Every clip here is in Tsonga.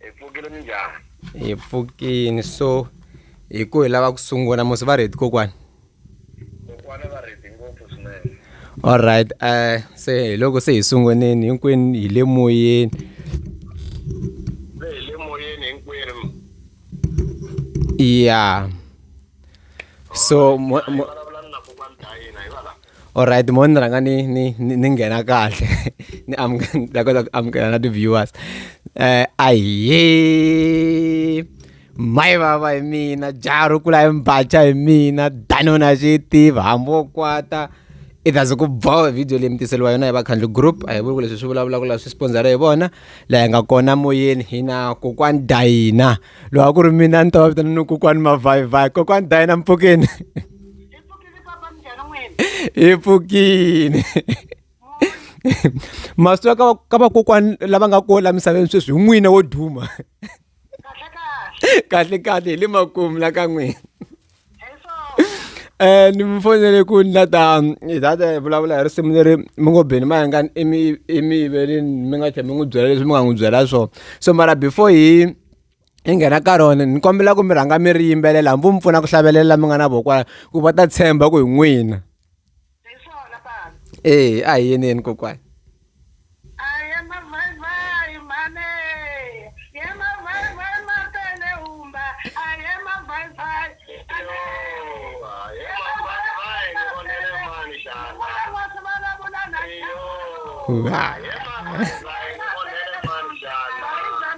hi pfukile minjhani hi pfukini so hi ku hi lava ku sungula musi va redi kokwani kokwana va redi ngopfu swinene allright um eh, se hi loko se hi sunguneni hinkwenu hi le moyeni se hi le moyeni hinkwenu ya so Alright mo ni rhanga ni ni ni ni nghena kahle ni ni ta kota ku amukela na ti-viewers um ahiye mayi vava hi mina jaha ro kula hi mbaca hi mina danona xi yi tiva hambi wo kwata i ta ze ku boha video leyi mi tiseriwa yona hi vakhandli group a hi vuli ku leswi swi vulavulaka laha swi sponzara hi vona laha hi nga kona moyeni hi na kokwani dayina lowa ku ri mina ni ta va vitana ni kokwani mavhayivhayi kokwani dayina mpfukeni hi pfukile masiku ya ka ka vakokwani lava nga kona la misaveni sweswi hi n'wina wo duma kahle kahle hi le makumu la ka n'wina um ni mi fonele ku ni la ta hi ta ta vulavula hi risimu leri mi ngo beni mayangani i mi i mi yiveleni mi nga tlhe mi n'wi byela leswi mi nga n'wi byela swona so mara before hi hi nghena ka rona ni kombela ku mi rhanga mi ri yimbelela hambi mi pfuna ku hlavelela mi nga na vokwala ku va ta tshemba ku hi n'wina ee a hi yeneni kokwana Wow.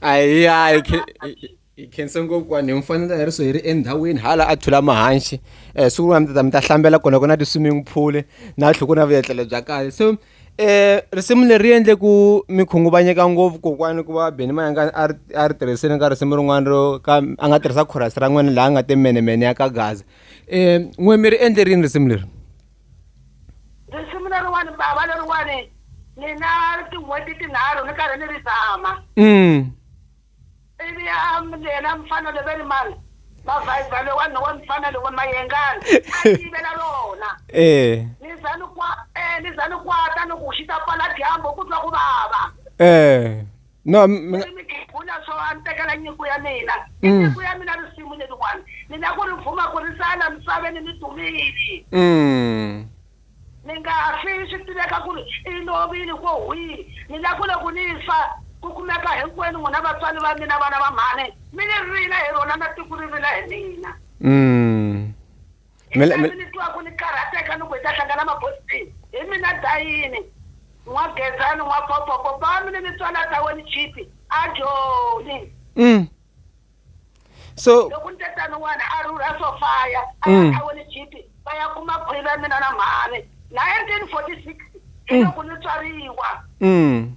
ayi ayi hi khense ngopfu vanhu hi mfanelo ya riso hi ri endhawini hala a thula mahanxi um siku rin'wana mi ta mi ta hlambela kona ku na ti-swimming pool na tlhoko na vuyetlelo bya kahle so um risimu leri endle ku mi khunguvanyeka ngopfu kokwani ku va beni mayangani a ri a ri tirhisini ka risimu rin'wana ro ka a nga tirhisa khorasi ra n'wina laha a nga te menemene ya ka gaza um n'we mi ri endle rini risimu leri risimu leriwani bava leriwani ni na tin'hweti tinharhu ni karhi ni ri zama mm. ivi yena mfana leveri mani mavhayibha lewani lowa mfana lowa mayengani a yivela rona eh. ni za ni eh, za ni kwata ni ku xi ta pfala dyambu ku twa ku vava eh. no mi nga- Ndzi mi khegula swo a ni tekela nyiko ya mina I Mm. nyiko ya mina risimu leriwani ni la ku ri vuma ku ri sala misaveni ni dumile mm. ni nga fi swi tiveka ku ri i lovile ko hwihi ni la ku loko ni fa ku kumeka hinkwenu n'wina vatswari va mina vana va mhani mi ni rila hi rona na tiko ri rila hi mina Mm. Mi le- mi- Leswi ni twaku ni karhateka ni ku hi ta hlangana mabosini hi mina Dayini, N'wa Gezani, N'wa Popo, Popami ni mitswala ta wena Chipi, Ajoni. Mm. So, Loko ni te tano n'wana a rhurha Sofaya a ya ka wena Chipi va ya kuma khwiri ya mina na mhani. 1946 hi loko ni tswariwa. mm.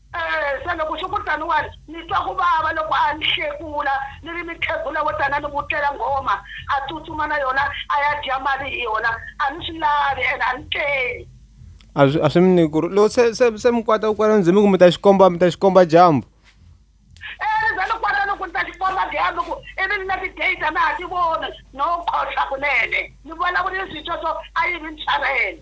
Se loko swi ku tano wani, ni twa ku vava loko a ni hlekula, ni ri, Mikhegula wo tani a ni vutlela nghoma, a tsutsuma na yona a ya dya mali hi yona. A ni swi lavi ene a ni tleli. A swi, a swi mi ni ku ri, loko se, se, se mi kwata kwala ndzi mi ku mi ta xi komba, mi ta xi komba dyambu. E ni za ni kwata ni ku ni ta xi komba dyambu ku ivi ni na ti-date a na ha ti voni, no khohlwa kunene. Ni vulavulile swintshwa swo a yi vi ntshavelo.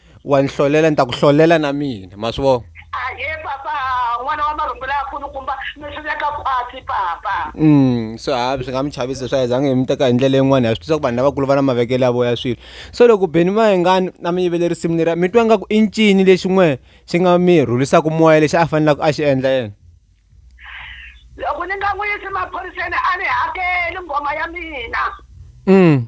wa ni hlolela ni ta ku hlolela na mina ma swi vona ahee papa n'wana wa marhumbula ya kulukumba mi swi veka khwatsi papa Mm, so hayi swi nga mi chavisa swa yizange hi mi teka hi ndlela yin'wana ha swi tisa ku vanhu lavakulu va na mavekelo ya voya swilo so loko beni mayengani a mi yivele risimu leriya mi twa ngaku i ncini lexi n'we xi nga mi rhulisaka moya lexi a fanelaka a xi endla yena loko ni nga n'wi yisi maphoriseni a ni hakeli nghoma ya mina mm.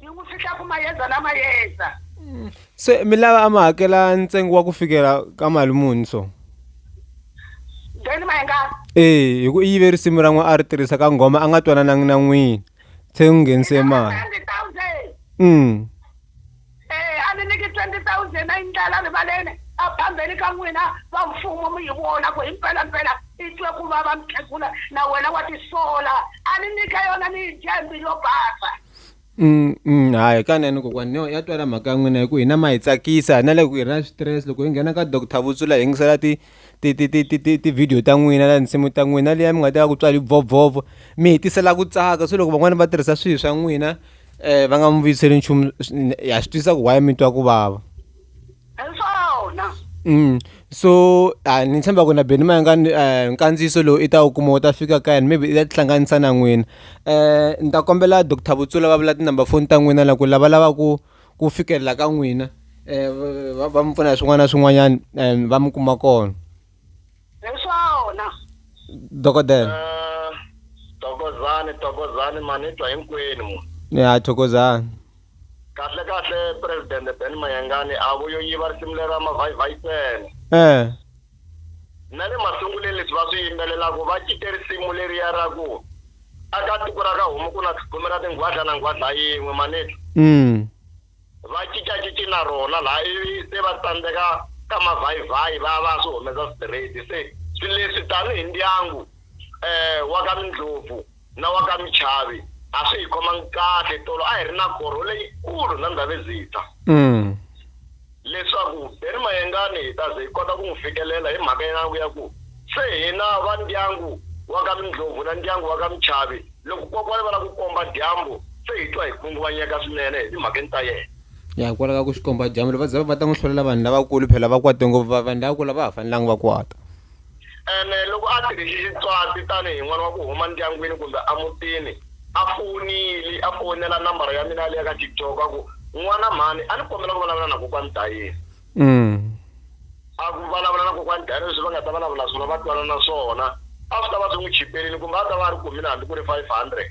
yi n'wi fihla ku mayeza na mayeza se mi lava a mi hakela ntsengo wa ku fikela ka mali muni so then mayengana ee hi ku i yive risimu ra n'we a ri tirhisa ka nghoma a nga twananangi na n'wini se n'wi nghenise mali thousand um Ee, a ni nyiki 20 thousand a yi ndlela rivaleni a phambeni ka n'wina va mfumo mi yi vona ku hi mpelampela i twe ku vava mukhegula na wena wa tisola a ni nyika yona ni yi dya hi mbilu yo basa Mm, mm, hayi kanene kokwani no ya twala mhaka ya n'wina hi ku hina ma hi tsakisa na le ku hi ri na switirese loko hi nghena ka doctor vutsula hi yingisela ti ti ti ti ti ti ti-video ta n'wina na tinsimu ta n'wina na liya mi nga ta va ku tswale bvovhovo mi hi tisela ku tsaka se loko van'wani va tirhisa swihi swa n'wina va nga mi vuyiseli nchumu ha swi twisisa ku why mi twa ku vava Mm. so a ni tshemba ku na beni ma nga eh, nkandziyiso lowu i ta wu kuma wu ta fika ka yena maybe i ta tihlanganisa na n'wina um ni ta kombela doctor vutsula va vula tinumber foni ta n'wina la ku lavalava ku ku fikelela ka n'wina um va mi pfuna hi swin'wana na swin'wanyana um va mi kuma kona hi swona dokodela eh, tokozani tokozani manitwa hinkwenu mu ya thokozani kahle kahle presidente ben mayengani a vuyo yiva risimu lera mavhayivhayi tsene um eh. Na le masunguleni leswi va swi yimbelelaka va cite risimu leriya ra ku a ka tiko ra ka homu ku na tlhumi ra tinghwadla na nghwadla yin'we maneti mm. va cincacinci na rona laha ivi se va tsandzeka ka mavhayivhayi va va swi humesa straight se swi leswi tanihi ndyangu um wa ka mindlopfu na wa ka Michavi a swi hi khomangi kahle tolo a hi ri na korho leyikulu na Ndhavezitha leswaku Benny Mayengani hi ta ze hi kota ku n'wi fikelela hi mhaka ya ya ku se hina va ndyangu wa ka Mindlhovu na ndyangu wa ka Michavi loko kokwani va lava ku komba dyambu se hi twa hi khunguvanyeka swinene hi timhakeni ta yena ya hikwalaho ka ku xikomba dyambu va za va ta n'wi hlolela vanhu lavakulu phela va kwate ngopfu va vanhu lavakulu a va ha fanelanga va kwata. Ene loko a tirhisi Xitswati tani hi n'wana wa ku huma ndyangwini kumbe a mutini, a fowunili, a fowunela nambara ya mina ya le ya ka TikTok a ku, N'wana mhani, a ni kombela ku vulavula na Kokwani Dayeni. A ku vulavula na Kokwani Dayeni leswi va nga ta vulavula swona va twanana swona, a swi ta va swi n'wi chiperile kumbe a ta va a ri kumile hambi ku ri 500.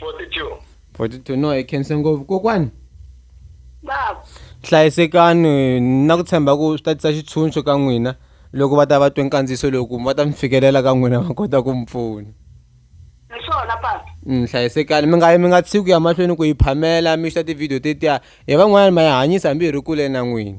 42 42 no hi khense ngopfu kokwani baba hlayisekani na ku tshemba ku swi ta tisa xitshunxo ka n'wina loko va ta va twe nkandziyiso lowu ku va ta mi fikelela ka n'wina va kota ku mi pfuna hi swona papa Mm, hlayisekani mi nga yi mi nga tshiki ku ya mahlweni ku yi phamela mi xita tivhidiyo tetiya hi van'wanyana ma yi hanyisa hambi hi ri kule na n'wina